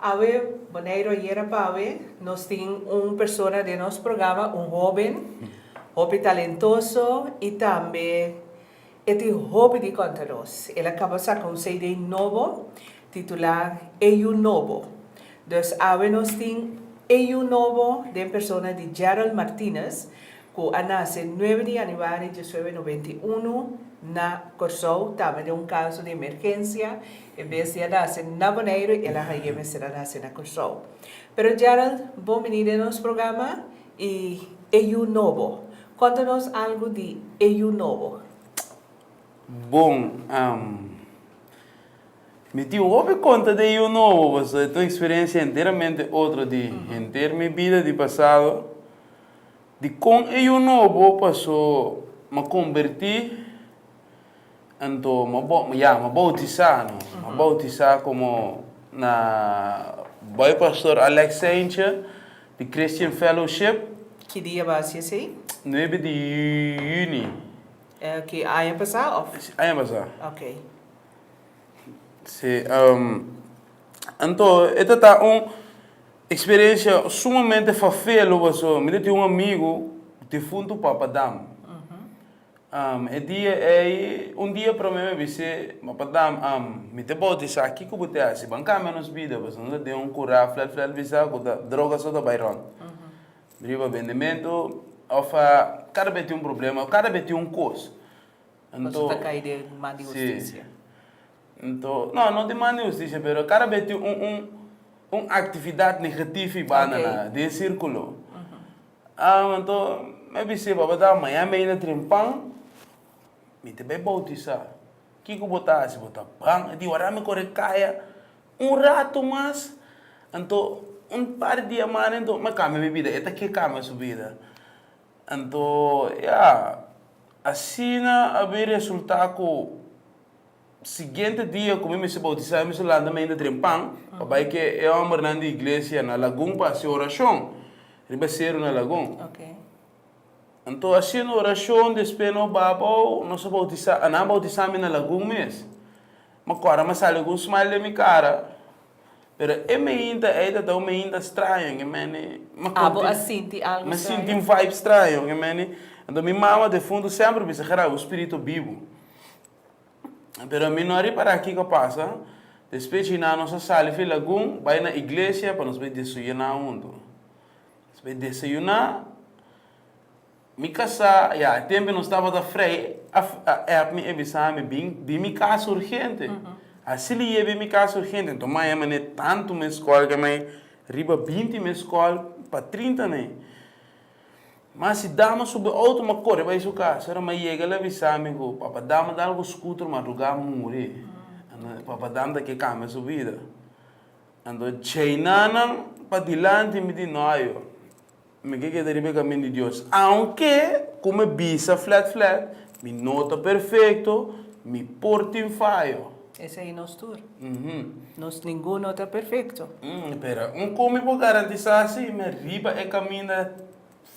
Awe Boneiro ayera pa awe nos tin un persona den nos programa un hoben hopi talentoso y tambe e tin hopi di conta nos el a caba saca un cd nobo titula E Yu Nobo dus awe nos tin E Yu Nobo den persona di Gerald Martinez cu a nace nuebe di januari diecinuebe noventa i uno na Corsou, tama den un caso di emergencia, e bes di a nace na Boneiru el a haye mester a nace na Corsou. Pero Gerald bo bini den nos programa y e yu nobo, conta nos algo di e yu nobo. Bon, am, mi tin hopi conta di e yu nobo pasobra e ta un experiencia enteramente otro di henter mi bida di pasado. Di kon e yu nobo pasó ma kombertí anto ma ya ma boutisá no ma boutisá komo na bai pastor Alex Saintje di Christian Fellowship. Ki dia bo a hasi esei? Nuebe di Juni. Ki aña pasá òf? Aña pasá. Oke. Sí, anto e ta ta un experiencia sumamente fafelo paso mi ta tin un amigo difunto papa dam, e dia ei un dia prome mi a bis'é papa dam mi ta bautisa kiko bo ta hasi bo a cambia nos bida paso nos a den un curá flel flel bisa cu ta droga so ta bai rond, mi riba bendimento of a cada be tin un problema cada be tin un cos. Anto, si, anto, no, no di man di hustisia, pero kada bes tin un, un, un actividad negatifi banda na di e circulo. Anto, mi a bis'é papá, ta, maña mi a yina tren pan, mi ta bai bautisá. Kiko bo ta hasi? Bo ta ban? Di waráda mi kore kaya un ratu mas, anto, un par di dianan anto, mi a kambia mi bida. E ta ke kambia su bida? Anto ya, asina a bin resultá ku siguiente dia ku mi mester boutisá, mi mester lanta mi ainda dren pan pa bai ku e hòmbernan di iglesia na lagun pa hasi orashon riba seru na lagun. Anto hasiendo orashon despues no babou, nos a boutisá, nan a boutisá mi na lagun mes. Mi akorda mi a sali ku un smile den mi kara. Pero e meinta ei ta ta un meinta straño en e mene. Abo a sinti algu straño? Mi a sinti un vibe straño en e mene. Anto mi mama defuntu semper bisa ke rabi un spirito bibu. Pero mi no a repará kiko a pasa. Despues djinan nos a sali fen lagun bai na iglesia pa nos bai desuyuná huntu. Nos bai desayuná. Mi kasá ya, e tempe nos tabata frei, a a ep mi e bisámi, Bin bin mi kasa urgente. Así lo yeb'é mi kasa urgente. Anto mi a hema n'e tantu mes skòl ke mi a riba binti mes skòl pa trinta n'e. Mas si dama subi e outo mi a kore bai su kasa. Ora mi a yega el a bisámi ku, Papadam a dal ku skuter madrugá muri. Anto Papadam ta ke kambia su bida. Anto djei nanan pa dilanti mi di no a yo. Mi ke keda riba e kaminda di Dios. Aunke ku mi bisa flat flat, mi no ta perfekto, mi por tin fayo. Esei nos tur. Nos ninguno ta perfekto. Pero con mi por garantisá si mi riba e kaminda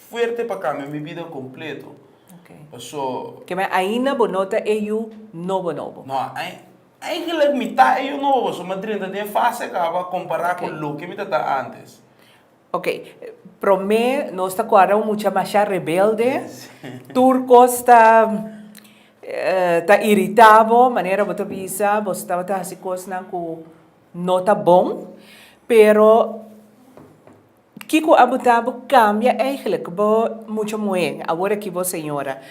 fuerte pa kambia mi bida kompleto? Pasobra. Ke mi ainda bo no ta e yu nobo nobo. No, eigenlik mi ta e yu nobo pasobra mi drenta den e fase kaba kompará ku loke mi ta ta antes. Ok, promé nos ta cuarda un mucha masha rebelde, tur cos ta ta irita bo, manera bo ta bisa bo tabata haci cosnan cu no ta bon, pero kico a bota bo cambia eigenlijk? Bo mucha muhe, awor aki bo señora.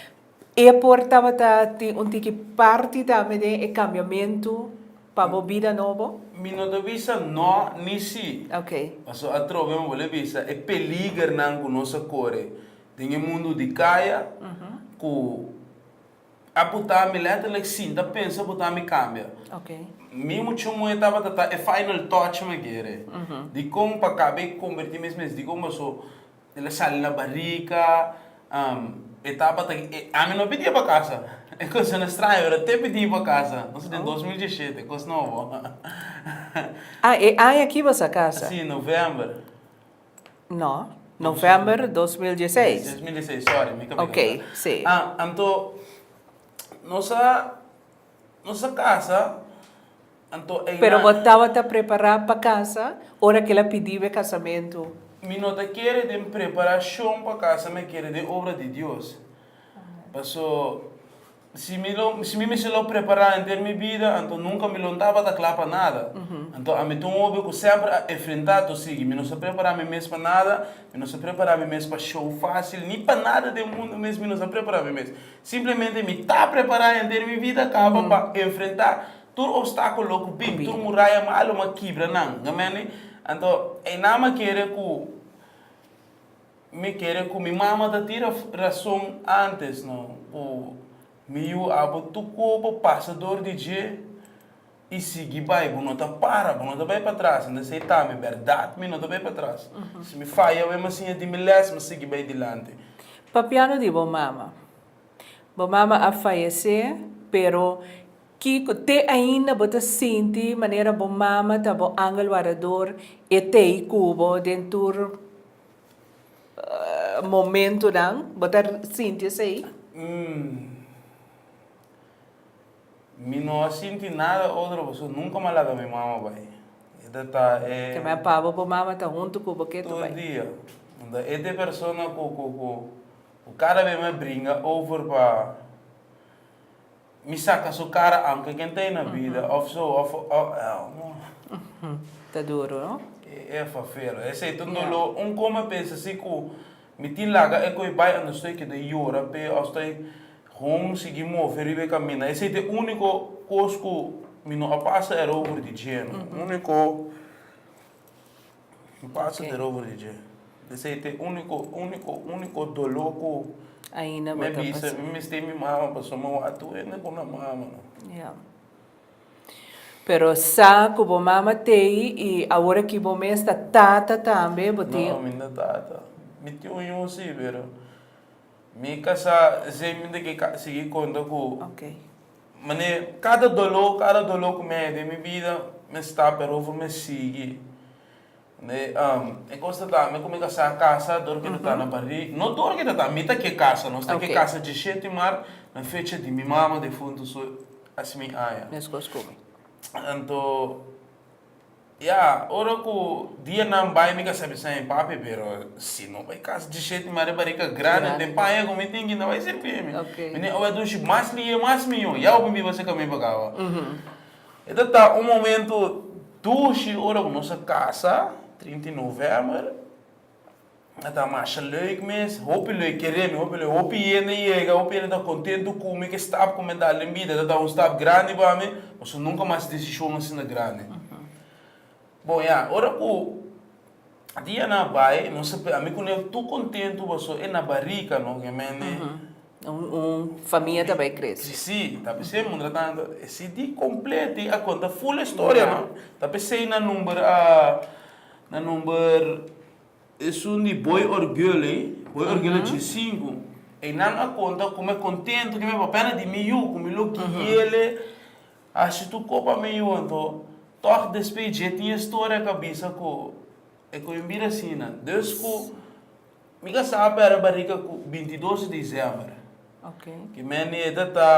E por tabata tin un tiki parti tambe den e kambiamentu pa bo bida nobo? Mi no ta bisa no ni sí. Ok. Paso atrobe mi bolé bisa e peligernan ku nos a kore den e mundu di kaya, ku a puta mi letterlijk sin ta pensa puta mi kambia. Ok. Mi mucho moe tabata ta e final touch mi a kere di kon pa kaba e komberti mes mes di kon paso. El a sali na barika, e tabata e, ami no pidi e pa casa, e cosnan estraño pero te pidi pa casa, nos den dos mil diesisiete, cos nobo. Ah, e aña aki bo sa casa? Si, november. No, november dos mil dieseis. Dos mil dieseis, sorry, mi ka bin kanta. Okay, si. Ah, anto nos a. Nos a casa, anto e na. Pero bo tabata prepará pa casa ora ke el a pidí bo e kasamentu? Mi no ta kere den preparashon pa casa, mi a kere den obra di Dios. Paso, si mi lo, si mi mester lo prepará henter mi bida, anto nunka mi lo no tabata kla pa nada. Anto ami ta un homber ku semper a enfrentá tur sigui. Mi no sa prepará mi mes pa nada, mi no sa prepará mi mes pa shou fásil, ni pa nada den mundu mes mi no sa prepará mi mes. Simplemente mi ta prepará henter mi bida kaba pa enfrentá tur opstákulo ku bin, tur muraya malu mi a kibra nan. Amén li? Anto einan mi a kere ku mi kere ku mi mama ta tira rason ántes no ku mi yu abo tur kua pa pasa dor di dje. i sigui bai, bo no ta para, bo no ta bai patras, unda esei ta mi berdad, mi no ta bai patras. Si mi faya awe, m'a siña di mi les, m'a sigui bai dilanti. Papiando di bo mama. Bo mama a fayecé, pero kico te ainda bo ta sinti manera bo mama ta bo angel warador, e t'ei cu bo den tur momentonan? Bo ta sinti esei? Mi no a sinti nada otro pasobra nunca m'a laga mi mama bai. E ta ta e. Ke m'a pabo bo mama ta hunto ku bo ke tur bai. Tur dia. Unda e ta e persona ku ku ku ku kada bes m'a bringa over pa mi saka su kara aunke ken ta ei na bida of so of oh. Ta duro no. E fa fero. Esei ta un dolo un kon m'a pensa si ku mi tin laga e ku ei bai ando stoi keda yora p'e of stoi Home sigui move riba e kaminda. Esei ta e úniko kos ku mi no a pasa erover di dje, no. Úniko mi pasa erover di dje. Esei ta e úniko, úniko, úniko doló ku mi a bisa mi mester mi mama pasobra mi a wak tur hende ku nan mama, no. Ya. Pero sa ku bo mama ta ei i awor aki bo mes ta tata tambe, bo tin. No, mi no ta tata. Mi tin un yusi, pero. Mi ka sa esaimende ke ka sigui konta ku mane. Kada doló, kada doló ku mi a hende den mi bida, mi a sta Peru for mi a sigui. E kos ta tambe ku mi ka sa kasa dor ke ta ta na barig, no dor ke ta ta, mi ta ke kasa. Nos ta ke kasa djishet di mar na fecha di mi mama defuntu, so asi mi aña. Anto. Ya, ora ku dianan bai mi ka sa bisa mi pape, pero si no bai kas disheti mare barika grandi den paña ku mi tin ki no bai sirbi e mi. Mi tin oe dushi mas lie mas miyon, yau mi biba se kaminyu pa kaba. E ta ta un momentu dushi ora ku nos a kasa, trinta i novèmber. a ta masha leuk mes, hopi leuk kere mi, hopi leuk, hopi hende yega, hopi hende ta kontentu ku mi, ke stap ku mi a da den bida ta ta un stap grandi pa mi, pasobra nunka mas desishon asina grandi. Bon ya, ora ku dia nan a bai, nos a ami ku Nel tur kontentu pasobra e na barika no, obviamente, Un famia ta bai kresi. Kresi, ta p'esei, mientrantanto, e CD kompleto a konta full e storia no, ta p'esei nan number a, nan number. Esun di boy orgel ey, boy orgel a dje sinku. Eynan a konta kuma e kontentu di mi papè na di mi yu, ku mi lo guiele hashi tur ko pa mi yu. Anto, tòg despues di dje tin e storia ka bisa ku e ku mi bira asina, dus ku mi ka sa pèrdè bariga ku bintidos di disember. Ki mèneda ta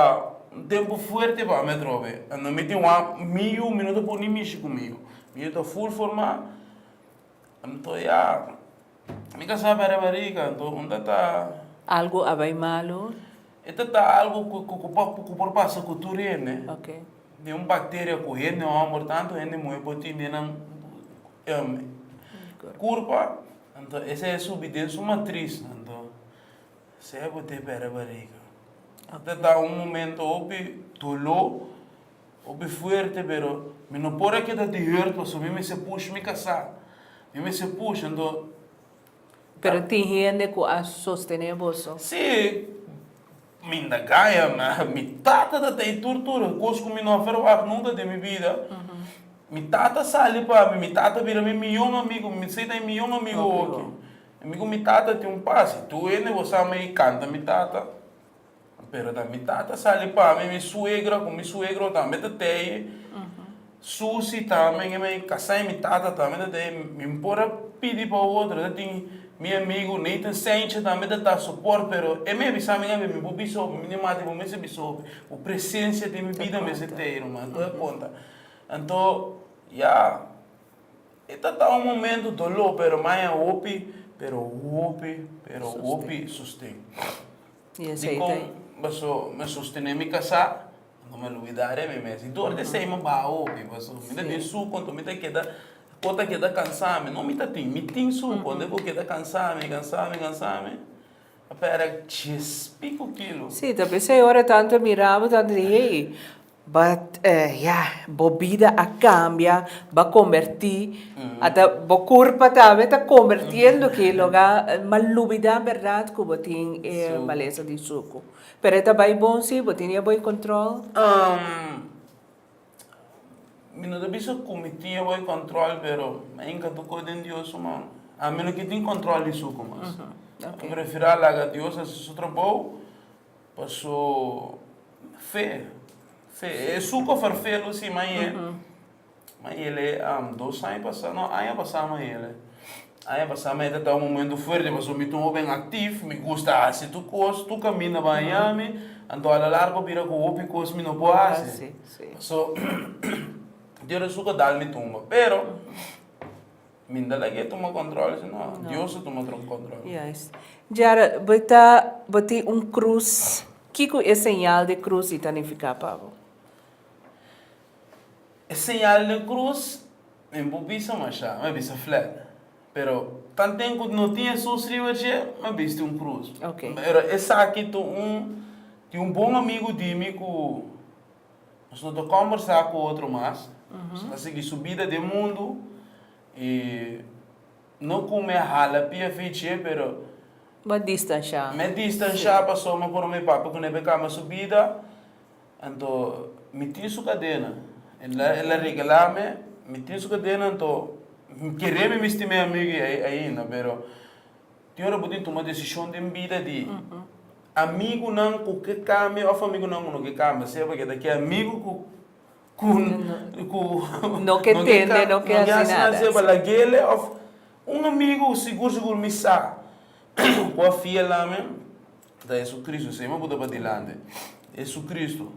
un tempu fuerte pa mi atrobe. Anto mi tin wak mi yu, mi no ta pone mishi ku mi yu. Mi yu ta ful formá. Anto ya mi ka sabi ariba riga anto un ta ta. Algu a bai malu. E ta ta algu ku por pasa ku tur hende. Oke. Tin un bakteria ku hende homber tantu hende muhe por tin den nan kurpa anto ese subi den su matris anto esei bo tepe ariba riga ta ta un momento hopi dolo. Bo be fuerte pero mi no por a keda di hurt paso mi mester push mi casa mi mester push anto Pero tin hende cu a sostene boso? Si, minda gaya mi mi tata ta ta y tur tur cos cu mi no a ferwag nunca den mi bida mi tata sali pa mi mi tata bira mi miyon amigo mi mester ta y miyon amigo hochi y mi cu mi tata tin un pas y tur hende bo sabe y canta mi tata. Pero ta mi tata sali pa mi, mi suegra cu mi suegro tambe ta teye susi tambe en e casa y mi tata tambe ta teye. Mi no por a pidi pa otro, ta tin mi amigo Nathan Sainche tambe ta ta support pero e mi a bisa mi awe mi por bisa hopi, mi di mati bo mester bisa hopi, bo presencia den mi bida mester teye ruman, bo ta conta. Anto ya e ta ta un momento dolor pero maya hopi, pero hopi, pero hopi sosten. Dikon paso mi sostené mi kasá? No mi a luidá de mi mes. I dor di esei mi a baha hopi paso mi ta tin su konto mi ta keda ko ta keda kansá mi. No mi ta tin, mi tin su konto ku keda kansá mi, kansá mi, kansá mi. Pera dies piko kilo. Si, ta p'esei ora e tantu e mirá bo tantu di hei, But ya, bo bida a cambia, b'a converti, ata bo curpa tambe ta convertiendo ki loga, m'a lubida berdad cu bo tin e maleza di sucu. Pero e ta bay bon si bo tin e boy control? Um, mi no ta bisa cu mi tin e boy control, pero a inga ta coge den Dios su man. Um, mi no ke tin control di sucu mas. Mi prefira laga Dios hasi su trabou. Paso, fe, fe, e suco for fe lo si ma e, ma ele am dos aña pasa, no aña pasa ma ele, aña pasa ma e ta ta un momento fuerte paso mi ta un hopi activo, mi gusta haci tur cos, tur caminda bañami, anto a la largo bira cu hopi cos mi no por haci, paso dios de suco dalmi tumba, pero. Minda laga e tuma control si no Dios ta tuma otro control. Yes. Jara bo ta bo tin un cruz kico e señal de cruz y ta nifica pa bo? E señal de cruz mi a bo bisa masha mi a bisa flat pero tanten cu no tin Jesús riba dje mi a bisti un cruz. Okay. Pero esaki ta un tin un bon amigo di mi cu Nos no ta kòmbersá ku otro mas. Nos ta sigui su bida den mundu. I no ku mi a hala pia Fitchie, pero. Mi a distanshá. Mi a distanshá pasobra mi a pone mi pape kuné pa e kamba su bida. Anto mi tin su kadena. El a regalá mi. Mi tin su kadena, anto mi kere mi misti mi amigu ei ainda, pero. Tin ora bo tin tuma desishon den bida di amigunan ku ke kambia òf amigunan ku no ke kambia, sea pakié ta ke amigu ku ku ku no ke tende, no ke hasi nada, sea pa laguele òf un amigu ku sigur sigur mi sa ku a fiel na mi ta Jesucristo, esei mi bo ta padilanti, Jesucristo.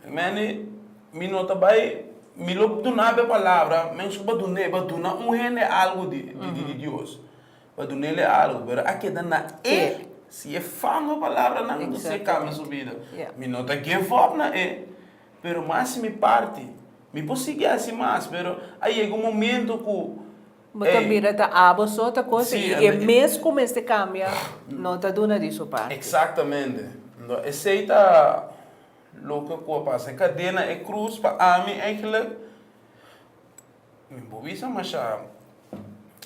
Amen e mi no ta bai mi lo duna'be palabra, men su ba duna e ba duna un hende algu di di Dios. pa dunele algo pero a keda na e si e fama palabranan a bisa e kambia su bida mi no ta give up na e pero mi a hasi mi parti mi por sigui hasi mas pero a yega un momento ku bo ta mira ta abo so ta cosa y e mes ku mester kambia no ta duna di su parti exactamente enton esey ta loke ku a pasa e kadena e cruz pa ami eigenlijk. Mi bo bisa masha,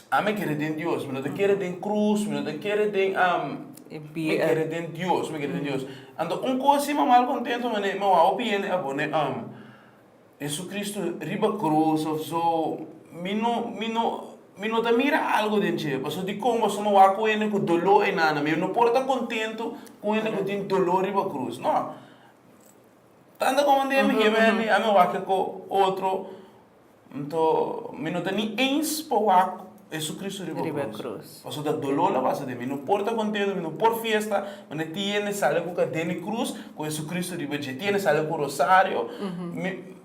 ami a kere den Dios, mi no ta kere den krus, mi no ta kere den am, mi a kere den Dios, mi a kere den Dios. Anto un kos si mi mal kontentu mi a wou bini hende a pone am Jesucristo riba krus of so, mi no mi no mi no ta mira algu den dje, pasobra dikon boso mi wou ku hende ku doló aynan na mi, mi no por ta kontentu ku hende ku tin doló riba krus, no. Tanta como un dia mi ke bende a mi wak ko otro nto mi no ta ni eens pa wak Jesucristo riba cruz pasobra dolor la basa den mi no por ta contento mi no por fiesta cuando tiene sali cu cadena di cruz cu Jesucristo riba dje tiene sali cu rosario mi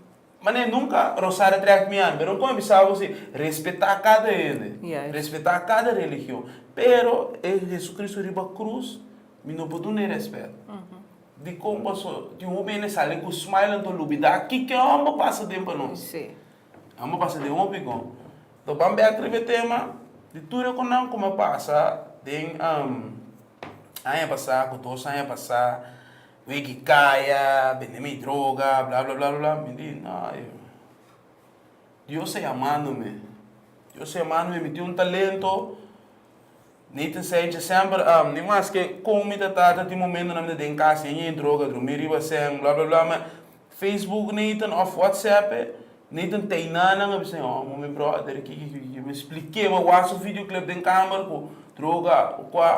manera nunca rosario a track mi ami pero mi cume bisa bo si respeta cada hende respeta cada religion pero e Jesucristo riba cruz mi no por duna e respeto. Dikon paso tin hopi hende sali ku smile anto lubidá kiko a bo pasa den pa nos. A bo pasa den hopi kon. To ban bèk riba e tema di tur e konan ku mi a pasa den aña pasá ku dos aña pasá wiki kaya bende mi droga bla bla bla bla mi di no Dios a yamando mi Dios a yamando mi mi tin un talento Nathan Said dje semper am di mas ke kon mi ta trata tin momento nan mi ta den kas yen yen droga drumi riba sèn bla bla bla me Facebook Nathan of WhatsApp e Nathan teinan nan a bisa oh mi brother kiki kiki kiki mi splike mi wak su video clip den kamer ku droga o kua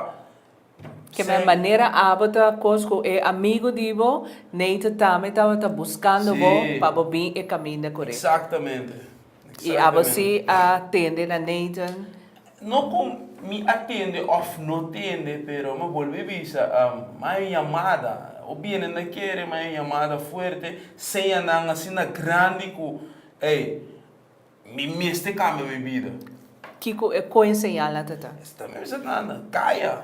Ke me manera abo ta kos ku e amigo di bo Nathan tambe tabata buskando bo pa bo bin e kaminda korek. Exactamente. I abo si a tende na Nathan? No cu mi a tende of no tende, pero mi a bolbe bisa, mai un yamada. O biene nan kere, mai un yamada fuerte, seña nan asina grandi cu, ey, mi mester cambia mi bida. Kico e coen señal nan ta ta? Esaki ta bisa nan, caya!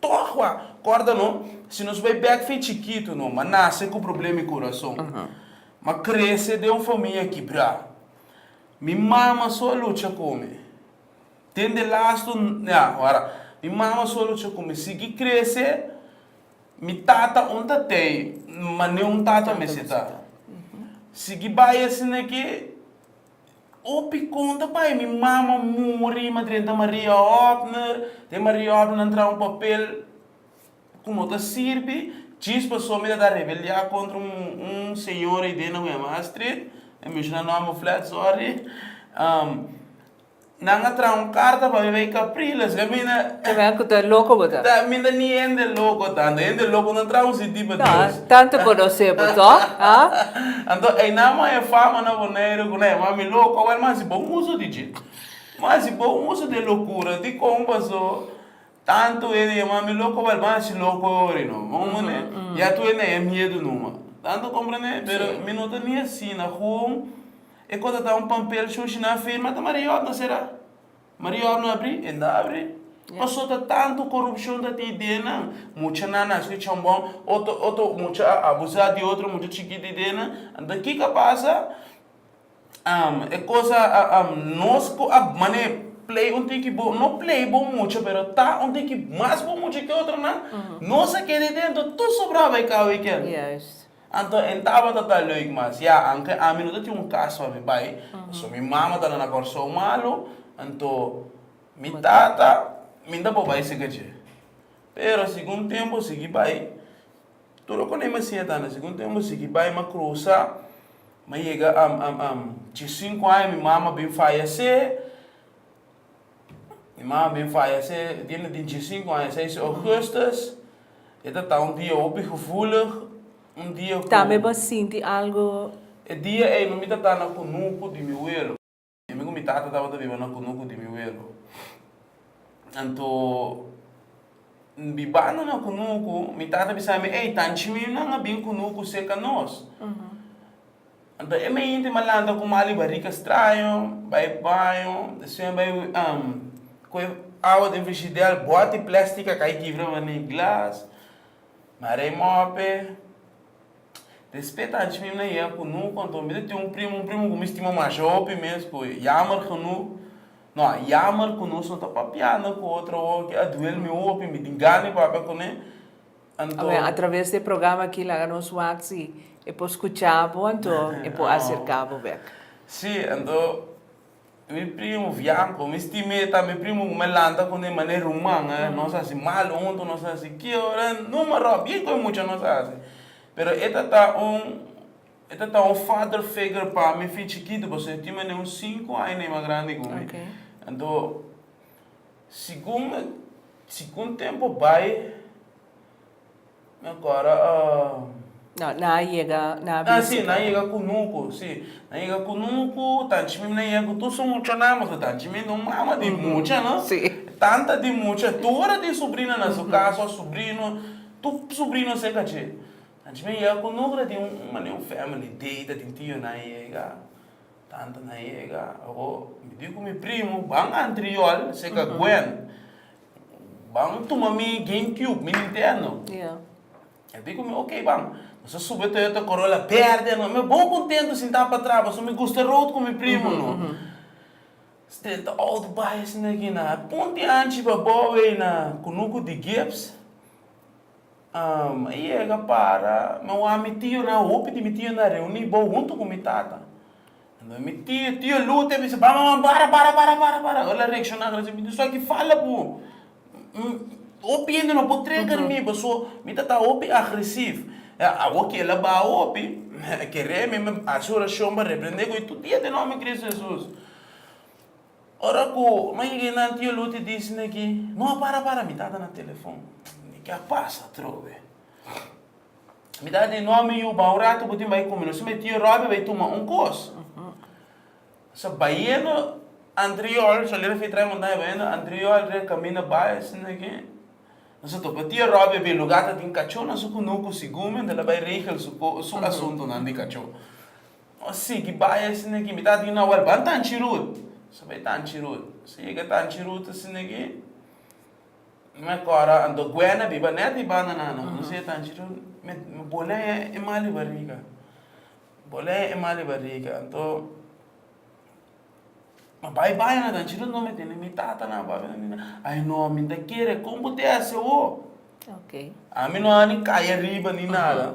Togua, corda no, si nos bay bek fin chikitu no ma nace cu problema y corazon, ma crece den un famia kibra. Mi mama so a lucha cu mi. Den de lastu, ya, wara, mi mama so a lucha cu mi. Sigui crece, mi tata aun ta tey, ma ni un tata mester ta. Sigui bay asina ki. Hopi conta bay mi mama muri mi drenta Maria Hopner den Maria Hopner nan traha un papel cu no ta sirbi djis pasobra mi ta tan rebeldia contra un señora ayi den na webmaster street no menshona nomber flat sorry Nan a traha un carta pa mi rey Capriles, y ami na. Ta mi cu ta loco bo ta. Ta mi ta ni hende loco tanto, hende loco no traha un CD pa Dios. Ta tanto conoce bo to, ah. Anto eynan man e fama na Bonaire cu na e mami loco, awor man haci bon uso di dje, man haci bon uso di e locura, dicon paso tanto hende di e mami loco, awor ban haci loco e ora y no, bo comprende, ya tu hende na e miedo numa, tanto comprende, pero mi no ta ni asina, hun. E kos a ta un pampel shushi na fe mata mariot na sera mariot no abri enda abri pasota tanto corupcion ta tin idea nan mucha nan a escu chon bon otro otro mucha a abusa di otro mucha chikit di idea nan enton kico a pasa e cos nos cu a manda e play un tin ki bon no play bon mucha pero ta un tin ki mas bon mucha ki otro nan nos a keda idea enton tur sobraba e cabo di kiel. Anto en tabata ta leuk mas ya anke ami no ta tin un cas pa mi bai paso mi mama ta na na corsou malu anto mi tata minda por bai seca dje pero segun tempo sigui bai tur lo cone mi hacía tambe segun tempo sigui bai ma crusa ma yega dje cinco aña mi mama a bin faya se. Mi ma a bin faya se tiene tinti i sinku aña seis di Augustus. E ta ta un dia hopi gevoelig, un dia ku Tambe bo a sinti algo? E dia ei no mi ta ta na kunuku di mi wero. Mi ku mi tata tabata biba na kunuku di mi wero. Anto bibando na kunuku mi tata bisa mi, Ei, tanchi mi nan a bin kunuku serka nos. Anto e mente malanta ku mali barika straño bai baño e sueño bai ku e awa den frishidèr bòt e plèstik a kai kibra mane e glas mare e mòpe respeta anchi mi na yega ku nunku anto mi ta tin un primu un primu ku mi stima masha hopi mes ku yammer genoeg no a yammer ku nos no ta papiando ku otro woki a duel mi hopi mi tin gana di papia kuné. Anto. A traves di e programa aki laga nos wak si e por skucha bo anto e por aserka bo bek. Sí, anto mi primu Vianco, mi stim'é ta mi primu ku mi a lanta ku e mané ruman, nos a hasi malu huntu, nos a hasi ke ora, numa ròk, bien ku e mucha nos a hasi. Pero e ta ta un, e ta ta un father figure pa mi fin chikitu, pasobra e tin mané un sinku aña nei mas grandi ku mi. Anto. Segun segun tempo bai nan cora a. No nan a yega nan a visita. Ah si nan a yega cunucu si nan a yega cunucu tanchi mi nan yega cu tur su mucha nan pasobra tanchi mi nan mama di mucha no si tanta di mucha tur tin subrina nan su casa o subrino tur subrino se cachi tanchi mi nan yega cunucu ta tin un family day ta tin tio nan a yega. Tanta na yega, o mi di ku mi primu, Ban antriol, se ka Gwen. Ban tuma mi Game Cube, mi Nintendo. E di ku mi, ok ban. Nos a subi e Toyota Corolla berde, no. Mi a bon kontentu sintá patrás, pasobra mi gusta e road ku mi primu, no. Stenta outo bai asina aki na punti anchi pa bou ei na kunuku di Gibbs. Mi yega para, mi wak mi tio nan, hopi di mi tio nan reuni bo huntu ku mi tata. Enton mi tio, tio Lute, mi si, Baba man, para, para, para, para, para. El a reakshoná grandi si, Mi tin suaki fala bo, hopi hende no por treger mi bo. So, mi ta ta hopi agresif. Awor ku el a baha hopi, mi a kere, mi a hasi orashon pa reprendé, ku e tur dia den nòmber di Kris Hesus. Ora ku mi yeg'e na Tio Luti e disi mi ki, No a para para, mi tata na telefon. Di ke a pasa atrobe? Mi tata di, No mi yu, bai un ratu bo tin bai kumi nos esei Tio Robby bai tuma un kos. So baiendo antriol, so aliref trae montaña, baiendo antriol dje kaminda bai esei na ke, nos a topa Tio Robby e be luga ta tin kachonan su kunuku, su gumen ta la bai regel su asuntunan di kacho. Nos sigui bai asina aki. Mi ta di un awor, ban Tanchirud. Nos a bai Tanchirud. Nos a yega Tanchirud asina aki. Mi mester ora anto Guena a biba net di banda nan. Nos a yega Tanchirud, mi bolea e mal di bariga. Mi bolea e mal di bariga. Anto, mi a bai baña na Tanchirud anto mi tene mi tatanan, papanan biba. Ai no, mi ta kere. Kon bo te hasi awo? Ami no a ni kai ariba ni nada.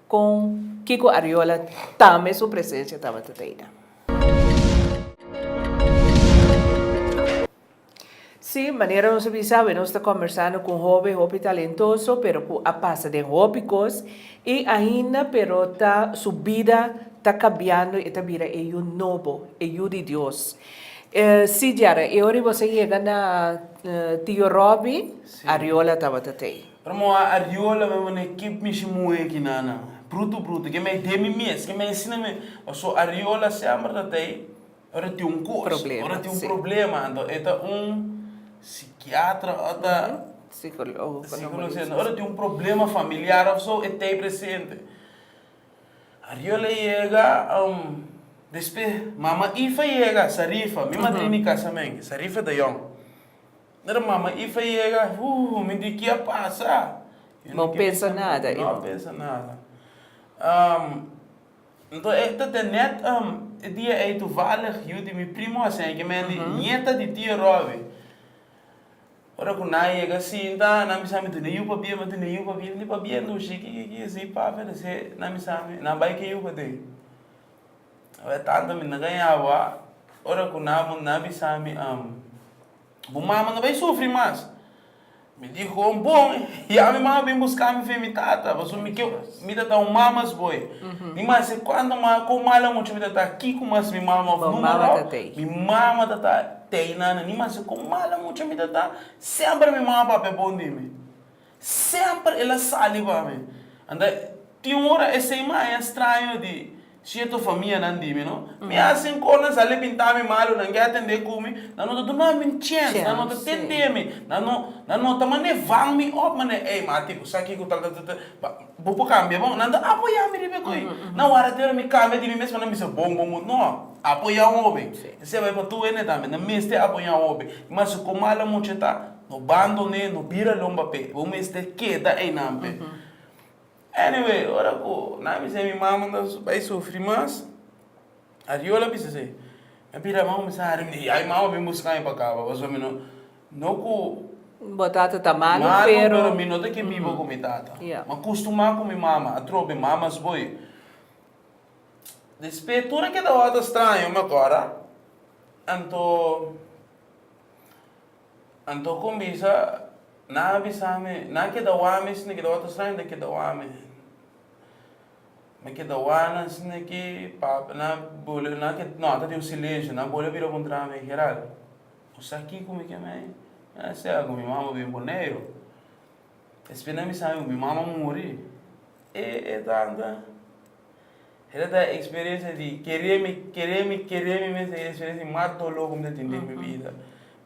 Con Kiko Arriola tambe su presencia tabata teida. Si, manera nos a bisa awe nos ta combersando cu un hopi hopi talentoso pero cu a pasa den hopi cos y ainda pero ta su bida ta cabiando e ta bira e yu nobo, e yu di Dios. Si Jerry, e ora y boso a yega na Tio Robbie, Arriola tabata tei. Pero mo a Ariola me mane kip mishi muhe aki na na brutu brutu ke me de mi mes ke me asina me paso Ariola sember ta ta ei ora tin un cos ora tin un problema anto e ta un psiquiatra o ta psicologo anto ora tin un problema familiar of so e ta ei presente Ariola yega despues mama Ifa yega Sarifa mi madrina di casamen Sarifa ta yong. Nada mama Ifa yega, Huuh, mi di ki a pasa? Yo no pensa nada, Ifa. No pensa nada. Um, Nto e ta den net, um, e dia ei tuvalig yu di mi primo a sende kimen di nieta di tio Robbie. Ora ku nan a yega sinta, nan bisa mi dune yu pabia, mi dune yu pabia. Mi di, Pabia ndushi? Ki ki ki si papia ta se? Nan bisa mi, Nan bai ke yu paden. Oe, tanta mi na gaña awa. Ora ku nan a munda, nan a bisa mi, um. Bo mama no bay sufri mas. Mi dijo, Bon, ya mi mama bin busca mi fe mi tata, pasobra mi ke, mi ta ta un mama esboe. Mi mama si, Cuanto mas, con mala mucha mi ta ta aki, con mas mi mama of numero, mi mama ta ta tey nan. Mi mama si, Con mala mucha mi ta ta, semper mi mama papia bon di mi. Semper el a sali pa mi. Anda, tin ora esei mi a haya straño di cierto famianan di mi, no? Mi a hasi un cor nan sali pinta mi malu, nan ke atende cu mi, nan no ta duna mi un chance, nan no ta tende mi, nan no, nan no ta mane vang mi op mane, ey mati, cu sa kico tal, tal, tal, tal, ba, bo por cambia bo? Nan ta apoya mi riba e koe. Na wara te ora mi cambia di mi mes, nan bisa bon, bon, bon, no, apoya un hobe. Esei bai pa tur hende tambe, nan mester apoya un hobe. Mas cu mala mucha ta. No bandoné, no bira lomba p'e. Bo mester keda einan p'e. Anyway, ora ku nan a bisa mi mama ta bai sufri mas, Ariola a bisa esei. Mi a bira mi a kuminsá haña mi yaya. Mi mama a bin buska mi pa kaba pasobra mi no, no ku. Bo tata ta malu, pero. Malu, pero mi no ta ke biba ku mi tata. Mi a kustumá ku mi mama. Atrobe, mamas bo e. Despe tur e ke tabatin straño mi a kòrda. Anto. Anto con bisa, Nan a bisa mi, nan keda wami sende keda otro straño ta keda wami. Mi keda wanan sende aki, pape nan boleo, nan ke, no, ta tin un silencio, nan boleo bira contra mi, Gerald, bo sa kico mi ke mi ay? Mi a sea, cu mi mama a bin Boneiru, espe nan bisa mi cu mi mama a muri? E, e tanta. Esa ta e experiencia di kere mi, kere mi, kere mi mes, ta e experiencia di mas dolor ku mi ta tin den mi bida,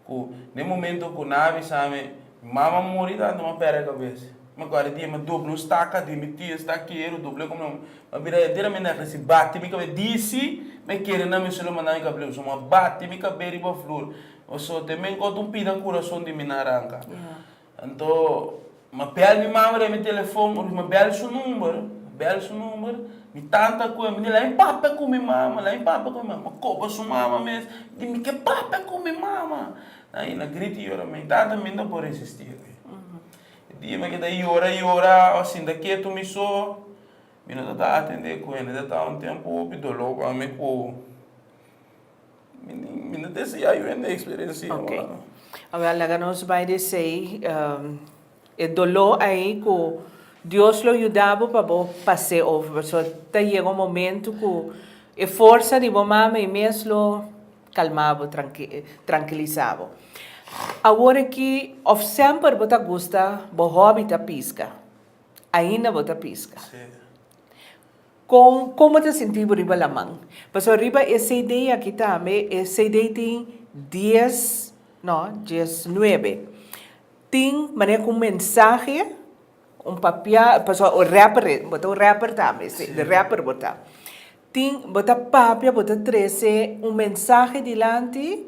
ku den momento ku nan a bisa mi mi mama muri tantu mi a pèrdè kabes, mi akorda e dia mi a dobla un staka di mi tio stakero, dobl'é ku mi amo, mi a bira enteramente na k'ese, bati mi kabes, disi mi a kere nan mi su lo manda mi kableus, mi a bati mi kabes riba flor, pasobra ta mi ankòt un pida kurason di mi na ranka. Anto, ma bèl mi mama den mi telefon, ora ku mi bèl su number, mi bèl su number, mi tanta ku mi di la mi papia ku mi mama, la mi papia ku mi mama, mi koba su mama mes, mi di mi ke papia ku mi mama, a i na grita i yora, ma i tanta mi no por resisti e dia. E dia mi a keda yora yora, a sinta ketu mi so, mi no ta atende ku hende, ta un tempu hopi dolor pa mi ku. Mi no tin si ya yu hende experencia ora no. Awor laga nos bai di esey e doló ay cu Dios lo yuda bo pa bo pas'e over pasobra ta yega un momento cu e forsa di bo mama ay mes lo calma bo trankilisa bo. Awor aki of semper bo ta gusta bo hobby ta pisca ainda bo ta pisca? Con como ta sintibo riba laman? Pasobra riba e CD aki tambe, e CD tin dies, no, dies nuebe. Tin manera cu un mensahe, un papia, pasobra o rapper e, bo ta un rapper tambe, si, di rapper bo ta. Tin, bo ta papia, bo ta trece un mensahe dilanti,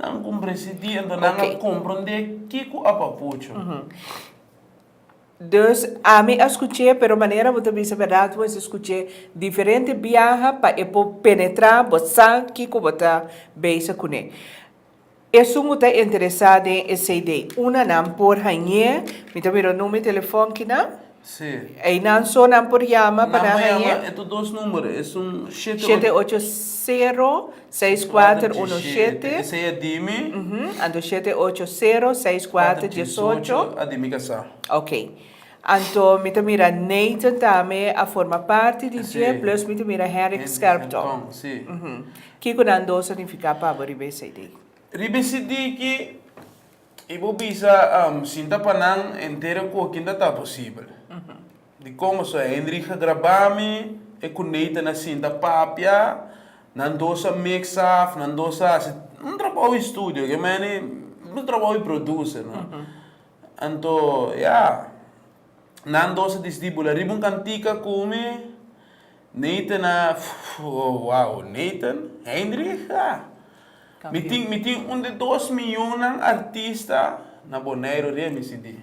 Nan con presidí anto nan a comprendé ki cu a papucho. Dus ami a scuch'é pero manera bo ta bisa berdad bo mester scuch'é diferente biaha pa e por penetrá bo sa kico bo ta beysa cun'é. Esun bo ta interesá den e cd. Unanan por hañ'é. Mi ta mira un numero di telefòn kinan. Einan so nan por yama pa nan hañ'é. Shete ocho sero, seis kuater uno shete. Anto shete ocho sero, seis kuater diesocho. Ok. Anto mi ta mira Nathan tambe a forma parti di dje plus mi ta mira Henrik Scherpton. Kiko nan dos a nifiká pa bo riba esei di? Riba esei di ki I bo bisa, Am, sinta pa nan henter e kokin ta ta posibel. Dikon boso? Hendrik a grabá mi, e ku Nathan a sinta papia, nan dos a mix af, nan dos a hasi un trabou di studio, ke mene un trabou di produse, no? Anto, ya, nan dos a disidí bula riba un kantika ku mi. Nathan a wow Nathan Heinrich a mi tin mi tin un de dos miunnan artista na Boneiru riba mi cd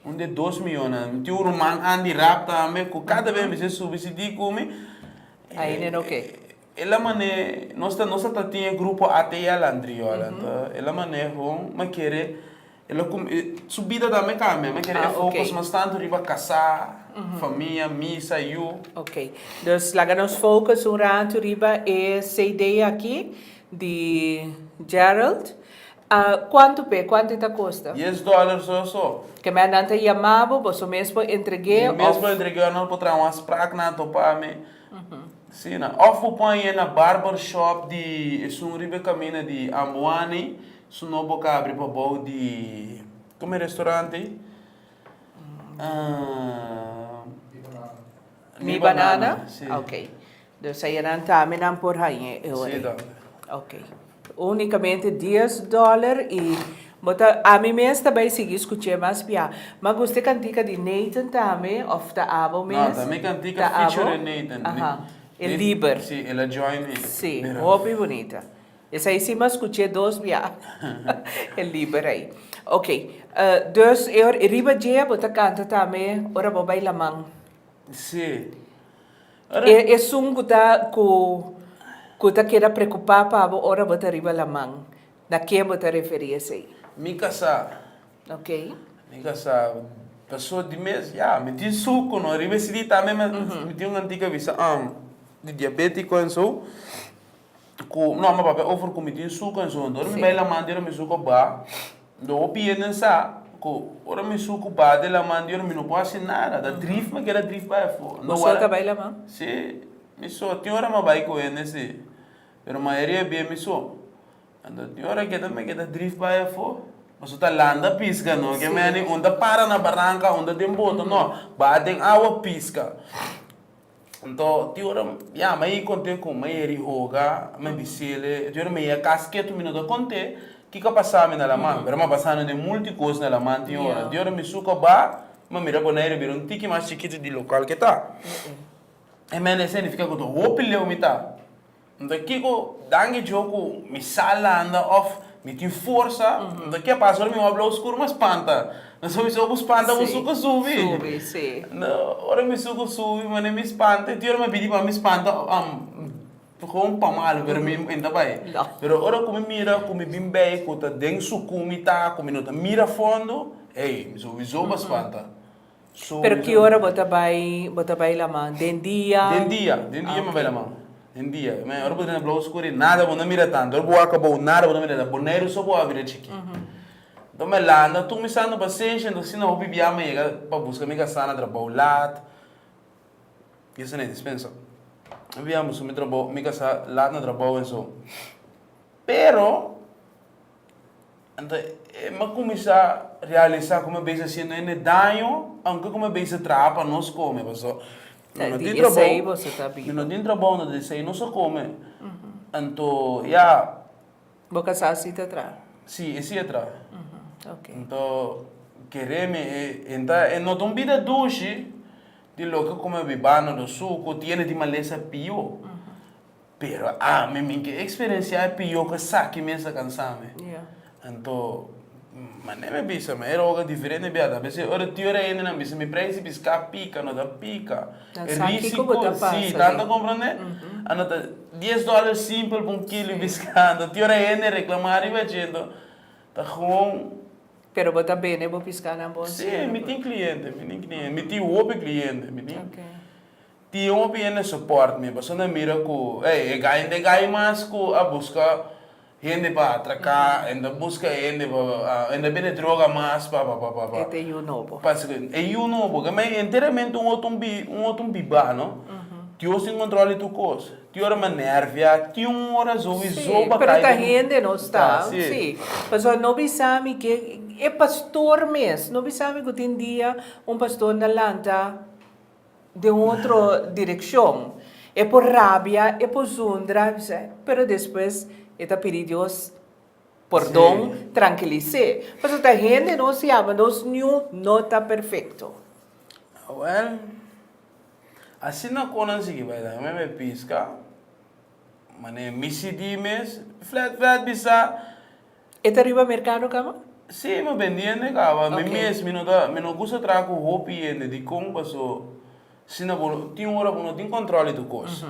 un de dos miunnan mi tin un ruman Andy Rap tambe ku kada bes mi ser subi cd ku mi Ahí nen oke. E la man'é nos ta nos a ta tin e grupo ate ya lantri yo alanta e la man'é hon ma kere e la cum e su bida ta me cambia ma kere e focus mas tanto riba casá famia misa yu. Ok dus laga nos focus un ratu riba e CD aki di Gerald a cuanto p'e cuanto e ta costa? Dies dollar so a so. Ke mei nan ta yama bo boso mes por entreg'é of. Mi mes por entreg'é of nan lo por traha un afspraak nan a topa mi. Asina. Òf bo pon aye na barber shop di esun riba e kaminda di Ambuani, su no bo ka abri pabou di, kome e restaurante? Mi Banana, si. Okay. Dus aye nan tambe nan por hañ'e e ora ei. Si, tata. Okay. Unicamente dies dollar y bo ta ami mes ta bay sigui scuche mas bia ma guste cantica di Nathan tambe of ta abo mes? No ta mi cantica feature Nathan. Aha e liber. Si el a join mi. Si hopi bunita esai si ma scuche dos bia e liber ai ok dus e riba dje bo ta canta tambe ora bo bay laman? Si. E esun ku ta ku ta keda preokupá pa bo ora bo ta riba laman, na ken bo ta referí esei? Mi kasá. Ok. Mi kasá. Pasó di mes, ya, mi tin su ku no riba e sidí tambe, mi tin un antiga bisa di diabétiko en su. Ku, no, mi papia over ku mi tin suka en su hende. Ora mi bai laman di ora mi suku ba, lo bo pia den sa ku ora mi suku ba den laman di ora mi no por hasi nada. Ta drif mi a keda drif bai afo. Bo so ta bai laman? Si, mi so. Tin ora mi a bai ku hende si. Pero mayoria bia mi so. Anto tin ora keda mi a keda drif bai afo. Mi so ta landa a piska, no ke meni unda para na baranka, unda den bota, no. Ba den awa piska. Anto tin ora ya ma e konte ku ma e ri hoga mi di sele e tin ora mi ya kas ketu mi no ta konte ki ka pasa mi na laman pero mi a pasa no den multi kos na laman tin ora tin ora mi suka ba mi a mira Bonaire bira un tiki mas chikitu di lokal ke ta e mene e significa ku ta hopi leu mi ta. Nta kiko danki djo ku mi sa landa òf mi tin forsa? Nta ke a pasa ora mi wak blou skur ma spanta? No so mi so ku spanta ku suku subi? No, ora mi suku subi mane mi spanta i tin ora mi a bini pa mi spanta gou pa malu pero mi e nta bai. Pero ora ku mi mira ku mi bin bei ku ta den suku mi ta ku mi no ta mira fondo, ei mi so bizoba spanta. Pero ki ora bo ta bai, bo ta bai laman? Den dia? Den dia, den dia mi bai laman. Den dia. Mi ora bo ta na blou skuri nada bo no mira tantu. Ora bo wak kabou nada bo no mira tantu. Boneiru so bo a bira chikí. Enton mi a lanta tur mi sa na pasensha, enton asina hopi biaha mi a yega pa buska mi kasa na trabou lat. Mi a sa na e dispensa. Hopi biaha mi a buska mi trabou, mi kasa lat na trabou en so. Pero. Anto e m'a kuminsá realisá ku mi a bes a shendo hende daño, ounke ku mi a bes a traha pa nos kome, paso mi no tin trabou, mi no tin trabou, anto di esei nos a kome. Anto ya, Bo kasá si ta traha? Sí, e sí a traha. Anto keré mi e hende, e no ta un bida dushi di loke ku mi a bibá na do su, ku tiene di malesa pió. Pero ami mi ke eksperensiá e pió ku esaki mes ta kansami. Anto, mané mi a bisa, mi era oga diferente biada. A bese ora tio Reiner a bisa mi prei si piská a pika, no ta pika. E risiko, sí, nan ta komprondé? A no ta dies dòler simpel pa un kilo piská. Anto tio Reiner reklamá riba dje, anto ta gewoon. Pero bo ta bini bo piská na bo? Sí, mi tin kliente, mi tin kliente. Mi tin hopi kliente. Tin hopi hende support mi paso nan mira cu ey e gay nde gay mas cu a busca hende pa atraca e nda busca hende pa e nda bende droga mas pa pa pa pa Ete yu nobo. pa esaki e yu nobo ke me enteramente un otro bi un otro biba no Dios tin control di tur cos tin ora me nervia tin un ora azo wi Sí, zoba pero cay ta den hende nos ta ta sí sí paso no bisa mi ke e pastor mes no bisa mi cu tin dia un pastor na lanta. den un otro direkshon. E por rabia, e por zundra, bisé, pero despues e ta pidi Dios pordon, trankilis'é. Pasobra ta hende nos yama, nos niun no ta perfekto. Awèl, asina ku nan sigui bai dal, meme piska, manera mi sidí mes, flèt flèt bisa. E ta riba merkado kaba? Sí, mi a bendí hende kaba. Mi mes, mi no ta, mi no gusta traha ku hopi hende. Dikon? Paso asina bo no, tin un ora bo no tin kòntròl di tur kos.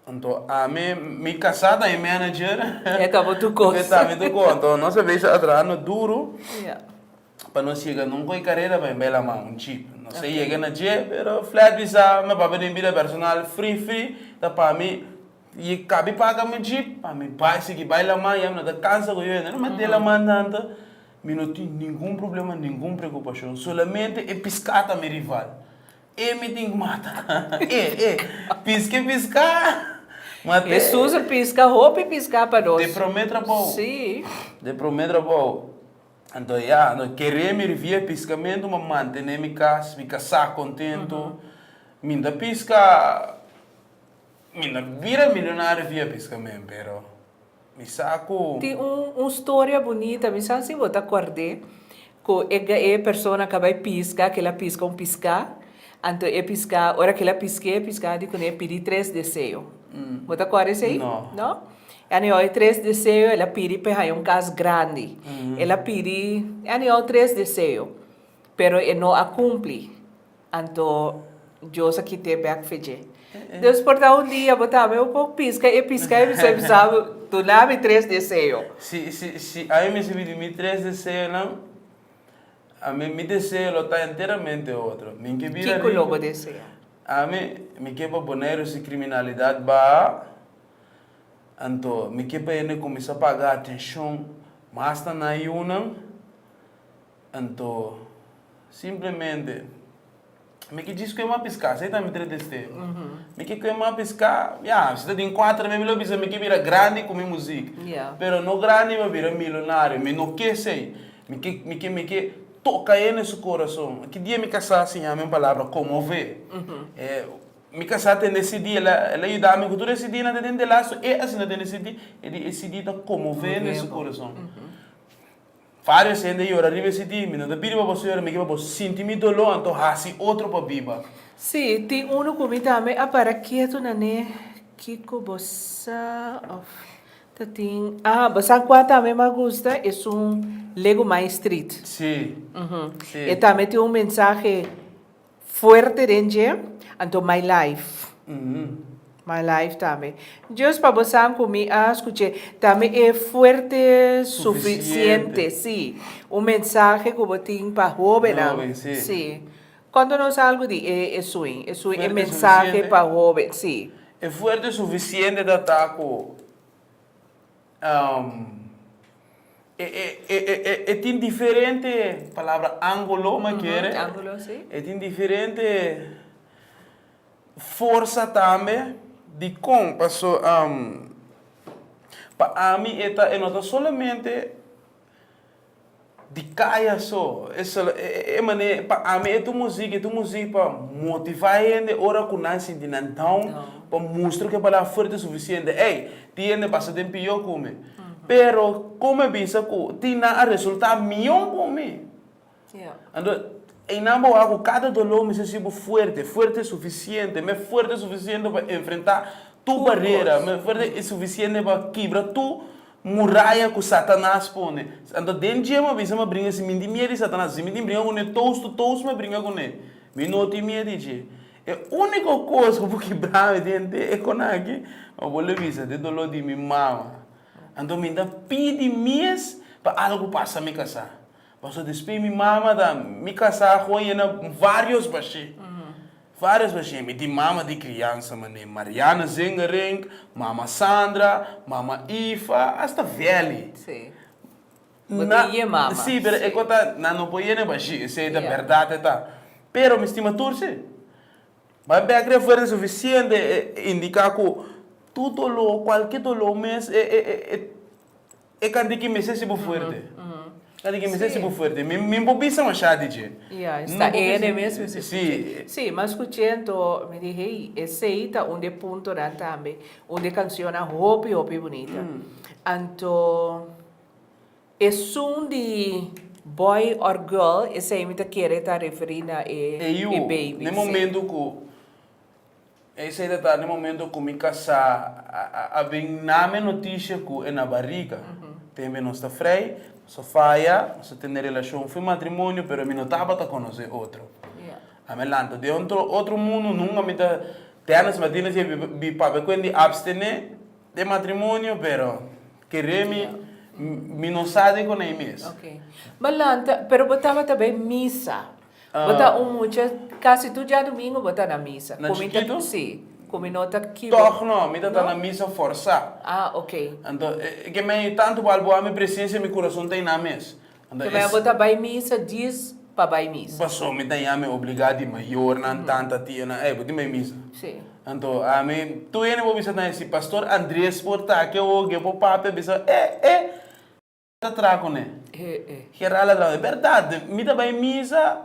Anto ami, mi kasá ta mi manager, mi ta mi tur kos. Anto nos a bes a traha na duru. Pa nos yega nunca e carera bay bela man un jeep nos a yega na dje pero flat mi sa mi a papia den bida personal free free ta pa mi y cabi paga mi jeep pa mi bay sigui bay laman ya mi no ta cansa cu yo hend'e mete laman tanto mi no tin ningun problema ningun preocupacion solamente e pisca ta mi rival e mi tin cu mata e e pisque pisca ma te Jesús a pisca hopi pisca pa nos. de prome trabou si. de prome trabou. Anto ya no keré mi rivia e piskamentu, ma mantené mi kas, mi kasá kontentu. Mi ta piska, mi ta bira milionario via piskamen, pero mi sa ku. Tin un un storia bunita, mi sa si bo ta kòrd'é, ku e ga e persona ka bai piska, kila piska un piská. Anto e piská, ora kila pisk'é piská di kuné pidi tres deseo. Bo ta kòrda esei? No. No? Anyou e tres deseo el a pidi p'e haña un kas grandi. El a pidi anyou tres deseo, pero e no a kumpli. Anto Dios a kit'é bèk fe dje. Dus por ta un dia bo ta bai por piska e piská i bisai bisa, Duna mi tres deseo. Si si si ai mester pidi mi tres deseonan, A mi, mi deseo lo ta enteramente otro. Mi ke bira riku. Kiko lo bo desea? A mi, mi ke pa Boneiru si kriminalidat baha. Anto, mi ke pa hende kuminsá paga atenshon mas na nan yunan. Anto, simplemente. Mi ke djis ku e m'a piská, se ta mi tres de stero. Mi ke ku e m'a piská, ya, si ta tin kuater mi, mi lo bisa mi ke bira grandi ku mi muzik. Ya. Pero no grandi pa bira milonario, mi no ke esei. Mi ke, mi ke, mi ke toka e na su korason. Ki dia mi kasá siña mi un palabra, komov'é. E mi kasá tende CD, el a, el a yuda mi ku tur e CDnan ta den delant'su, e asina tende CD, e di e CD ta komov'é na su korason. Varios hende a yora riba e CD. Mi no ta pidi pa boso yora, mi kier pa bo sinti mi doló, anto haci otro pa biba. Sí, tin uno cu mi tambe a para kietu nané. Kico bo sa of ta tin? Ah, bo sa cua tambe m'ha gusta? Esun Lego Main Street. Sí, sí. E tambe tin un mensahe. Fuerte den dje, anto my life. My life tambe. Just pa bo san cu mi a scuche tambe e fuerte suficiente. Si. Un mensahe cu bo tin pa hobennan. Si. Contonos algo di e e sui. E sui e mensahe pa hoben. Si. E fuerte suficiente ta ta cu. e tin diferente palabra angulo me kere e tin diferente forsa tambe dikon paso pa ami e ta e no ta solamente Di kaya so, e solo e mane, pa ami e ta un musiki, e ta un musiki pa motivá hende ora ku nan sinti nan down, pa mustra ku e balada fuerte sufisiente, ey, tin hende basa den pihó ku mi. Pero, kon mi a bisa ku tin nan a resultá mihó ku mi? Anto, einan bo a ku kada doló mester sibu fuerte, fuerte sufisiente, mi a fuerte sufisiente pa enfrentá tur barera, mi a fuerte sufisiente pa kibra tur muraya ku Satanas pone. Anto, den dje mi a bisa mi a bringa simin tin mier di Satanas, simin tin bringa kuné tous, tu tous mi a bringa kuné, mi no tin mier di dje. E úniko kos ku por kibra mi den te e kona aki, mi bo le bisa, te doló di mi mama. Anto, mi ta pidi mes pa algu pasa mi kasá. Paso despe mi mama ta mi casá con e na varios bashé, varios bashé. Mi tin mama di criansa mané Mariana Zengerink, mama Sandra, mama Ifa, hasta Velly. Sí. Bo tin dje mama. Sí, pero e cota nan no por yene bashí, esei ta berdad e ta. Pero mi stima tur sí. Bai bek ren fuera di suficiente e indica cu tur dolor, cualkier dolor mes e E ka di ki mester si bo fuerte. Ka di ki mester si bo fuerte. Mi bo bisa mashá di dje. Ya, e sta ene mes mi skuché. Sí, mi a skuché anto mi di hey, esei ta un di e puntonan tambe, un di e kansionnan hopi hopi bunita. Anto e sun di boy or girl, esei mi ta kere ta referí na e beibi. Yu, na e momentu ku Esei ta tarde momento cu mi casá a bin name noticia cu e na bariga. Tenbe nos ta vrij, nos a faya, nos a tene relacion fu matrimonio, pero mi no tabata conoce otro. A mi a lanta den otro otro mundo, nunca mi ta Dennis Martinez a yega di papia cu a di abstene den matrimonio, pero kere mi, mi no sa di cu na e mes. Bo lanta, pero bo tabata bay misa. Bo ta un mucha, casi tur djadumingo bo ta na misa. Na chiquito? Si, cu mi no ta kibo. Tog no, mi ta ta na misa forsa. Ah, ok. Anto, e ke mei tanto wal bo a mi presencia mi curason ta inan mes. Anto, Ke mei bo ta bai misa dies pa bai misa. Paso mi ta yami obliga di mayornan, tanta, tianan, ey, bo tin bai misa. Si. Anto, a mi, tur hende bo bisa nan e si Pastor Andres por ta aki oge, bo papi a bisa, eh, eh. ta traha cu ne. Hera ladran, e berdad, mi ta bay misa,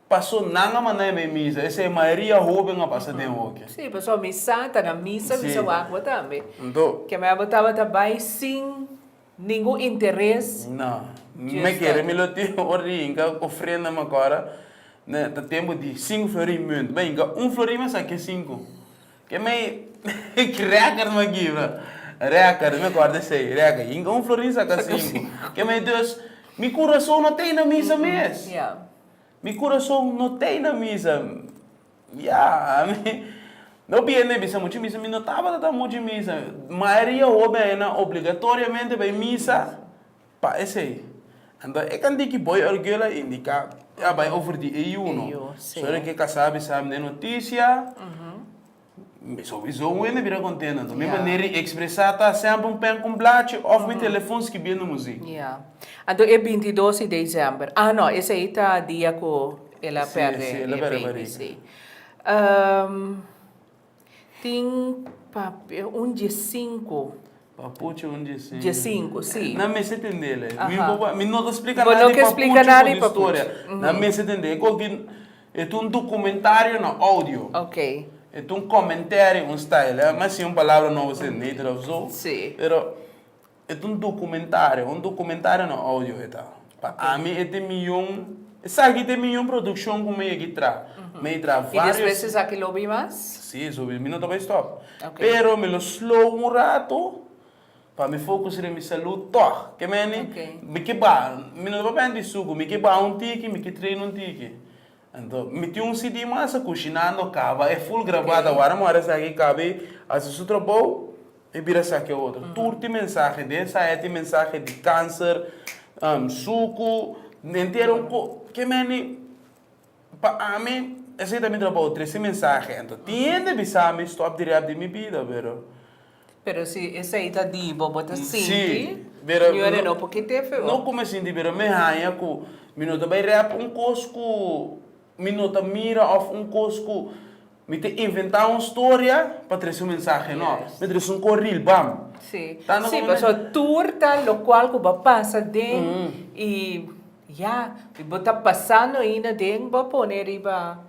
paso nan a manda mi bay misa, esey mayoria hoben a pasa den hoki. Si, paso mi sa ta na misa, mi sa wak-bo tambe. Anto. Ke mei abo tabata bay sin ningun interes. Na, mi kere mi lo tin ora di hinca ofrenda mi acorda, ne, ta tempo di cinco florin munt, bay hinca un florin mas sa ke cinco. Ke mei reker no aki bro. Reker mi acorda esey reker hinca un florin saca cinco ke mei dus mi curason no tey na misa mes mi curason no tey na misa ya ami no bieni a bisa mucho misa mi no tabata ta mucho misa mayoria hopi aye nan obligatoriamente bay misa. Pa esei, anto e kanti ki boy orgel a indiká e a bai over di e yu, no? Sor e ke ka sabi, sa mne notisia, mi souizo wen a bira kontento. Anto mi manera di ekspresá ta semper un pèn ku un blachi òf mi telefòn skibiendo muzik. Ya. Anto e binti dos di desember, ah no, esei ta dia ku el a pèrdè e beibi, si. Tin papia un die sinku. Papuchi un die sinku. Die sinku, si. Nan mester tende el e. Aha. Mi bo, mi no ta splika Bo nada no di ke papuchi splika nada di ku di papuchi. storia. Mhm. Nan mester tende. E kos di, e ta un dokumentario na oudio. Ok. E ta un commentary, un style, eh. Mas sin un palabra nobo ser neutral of zo. Si. Pero. E ta un dokumentario, un dokumentario na audio e ta. Pa ami e ta e mion, esaki ta e mion produkshon ku mi a yegi traha. Mi a yegi traha varios. I despues esaki lo bin mas? Si, so mi no ta bai stòp. Pero mi lo slow un ratu pa mi fokus riba mi salud tòg. Ke meni? Mi ke ba, mi no ta papia di suku, mi ke ba un tiki, mi ke traina un tiki. Anto, mi tin un CD mas, Cushinando, caba e full grabado awara, mor esaki cabe haci su trabou, mi bira saki e otro. Tur tin mensahe, den esaya tin mensahe di cancer, sucu, entero un co, ke meni, pa ami, esaki ta mi trabou, trece mensahe. Anto, tin hende bisa mi, stop di rap di mi bida, pero. Pero si esei ta di bo, bo ta sinti ñuere no por kite fe bo. No ku mi sinti pero mi haña ku mi no ta bai rep un kos ku mi no ta mira of un kos ku mi ta inventá un storia pa trese un mensahe. No, mi ta trese un kos ril bam. Si, si, paso tur ta lokual ku bo a pasa den i ya, bo ta pasando ainda den bo a pone riba.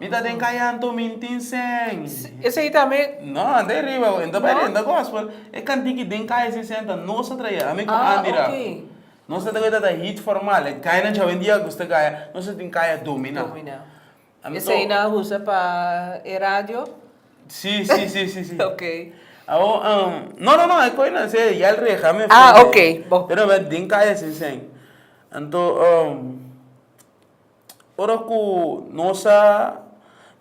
Mi ta den kaya anto min tin sèn. Esei ta mi. No, anda e riba, e ta bai renta gospel. E kanti ki den kaya sin sèn ta nos a traia. Ami ku Andy Raf. Ah, ok. Nos ta traia ta hit formal. E kaya nan chau en dia gusta kaya. Nos a tin kaya dominá. Dominá. Anto. Esei nan a usa pa e radio? Sí, sí, sí, sí, sí. Ok. Awo, no, no, no, e koi nan se yal reha mi. Ah, ok, bo. Pero den kaya sin sèn. Anto. Ora ku nos a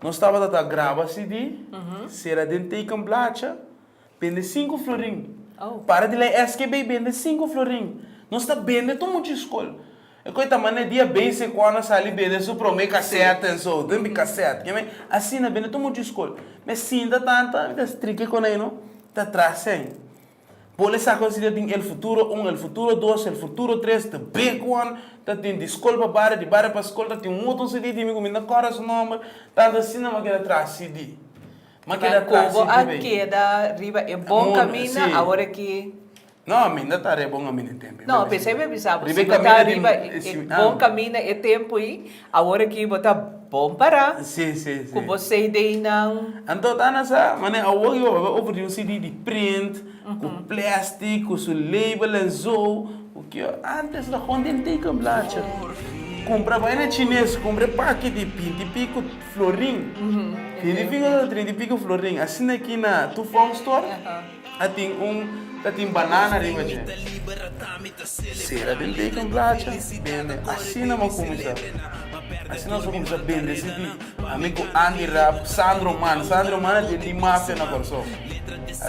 nos tabata ta graba CD sera den teken blacha bende sinku florin para di la e SKB bende sinku florin nos ta bende tur muchu skol e ku e ta manda e dia bese ku Ana sali bende su prome kasèt en so den di kasèt ke me asina bende tur muchu skol me sinta tanta mi ta striki kuné no ta tras'e. Bo le sa considera tin el futuro un, el futuro dos, el futuro tres ta becuan, ta tin di scol pa baria, di baria pa scol, ta tin un moton CD di mi cu mi na corda su nomber, tanto asina mi a keda traha CD. Mi a keda traha CD bay. Cu bo a keda riba e bon camina aworaki? No, mi inda ta riba e bon camina e tempo. No, p'esei mi a bisa bo, si bo ta riba e bon camina e tempo y. Awor aki bo ta bon para cu bo CDnan. Anto Ana sa, mane awor yo hoga over di un CD di print, cu plastic, cu su label en zo, cu ke yo. Antes ta con den teken blacha. Cumpra baina chines, cumpra e paquiti, binti pico florin. Binti pico, trinta y pico florin. Asina aki na Tufom Store. Ta tin un ta tin banana riba dje. Sera den tei con blacha bende asina mo cuminsa asina nos a cuminsa bende cd ami cu Andy Rap Sandro man Sandro man a den di mafia na Kòrsou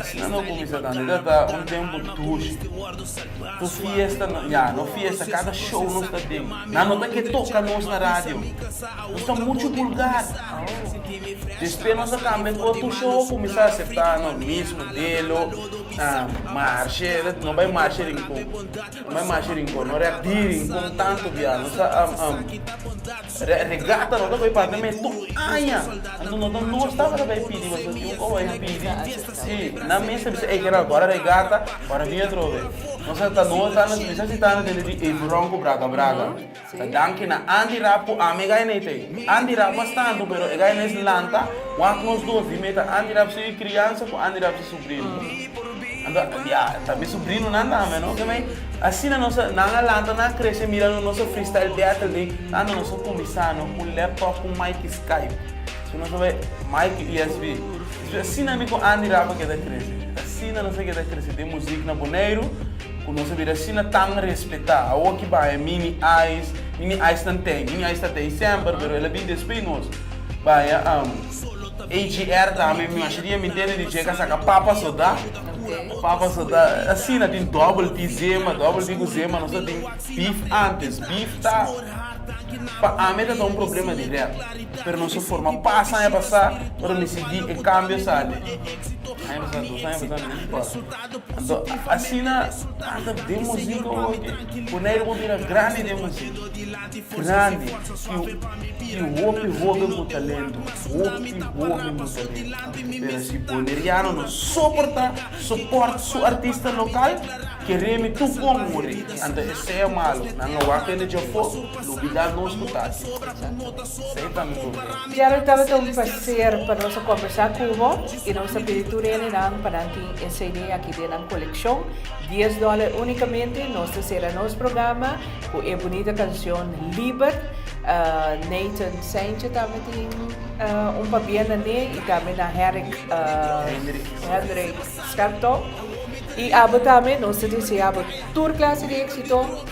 asina no cuminsa tando ita ta un tempo dushi no fiesta ya no fiesta cada show nos ta tin nan no ta ke toca nos na radio. Nos ta muchu bulgar. Despe nos a cambia cu a tusha ho cuminsa acepta nos mismo delo na marshe. No bay marshe rincon. No bay marshe rincon. No rec di rincon tanto biaha. Nos ta rec regata. No ta bay parti na mey tur aña. Anto no ta no staba ta bay pidi wasa tin oco aña pidi. Si, nan mester bisa ey kera gora regata, gora bini atrobe. Nos a ta no ta na bisa si ta na dentro di Evi Ron cu Braga Braga. Ta danki na Andy Rapp cu ami e gay na Itei. Andy Rapp a stanto, pero e gay na es lanta, wak nos dos, di meta Andy Rapp su criansa cu Andy Rapp su subrino. Anto, ya, ta mi subrinonan tambe, no? Ke mai, asina nos a, nan a lanta, nan a crece mirando nos a freestyle battle dey, tando nos a cuminsa, no? Cu laptop, cu mic y Skype. So nos a bay, mic y USB. So e asina mi ku Andy Rapa keda krese. E asina nos a keda krese. Tin muzik na Boneiru ku nos a bira asina tan respetá. Awo ki bai e Mini Ice, Mini Ice nan tei. Mini Ice ta tei semper pero el a bin despe nos. Bai a AGR tambe mi masha dia mi ntende di djeka saka Papa Sodá. Papa Sodá asina tin Double T Zema, Double T ku Zema nos a tin beef antes. Beef ta pa ami ta ta un problema di rap. Pero nos a forma pas aña pasá, pero mi sigui e kambio sa di aña pasá, dos aña pasá mi no a kòrda. Anto asina tanta den musika owa ke Bonaire por bira grandi den musika, grandi i hopi hopi ku talento, hopi hopi ku talento. Pero si Boneriano no soportá, sopòrt su artista lokal, ke remi tur kon muri, anto esei a malu, nan lo wak kende djòp po. Lubida nos cu ta aki. Esey ta mi gobier. Gerald tabata un placer pa nos a combersa cu bo y nos ta pidi tur heninan pa nan tin e CD aki den nan coleccion. Dies dollar unicamente. Nos ta cera nos programa cu e bunita cancion Liber. Nathan Saintje tambe tin un pabia na ne y tambe na Herrick Hendrik Scherptow. Y abo tambe nos ta desea bo tur clase di exito.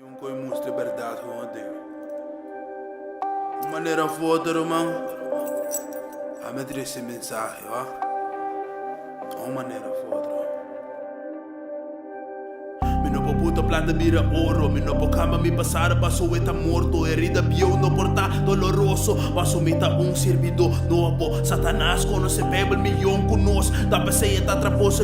Yon koe musti berdad hoon den un manera fu otro man a met reci mensahe oa un manera fu otro mi no por puta plata bira oro mi no por camba mi pasado paso we ta morto herida bieu no por ta doloroso paso mi ta un sirbido nobo satanas conoce bebel mi yon cu nos ta pese e ta traposo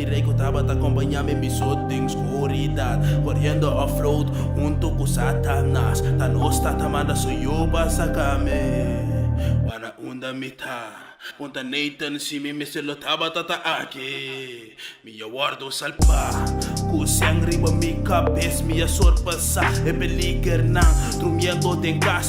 E rey cu tabata acompaña mi bisut den scuridad, corriendo a float hunto cu Satanas, ta nos tata manda su yu pa saca mi, wana unda mi ta. Punta Nathan si mi mester lo tabata ta aki, mi ya wordo salba, cu seng riba mi cabes mi ya sorpasa e peligernan, trumiento den cas.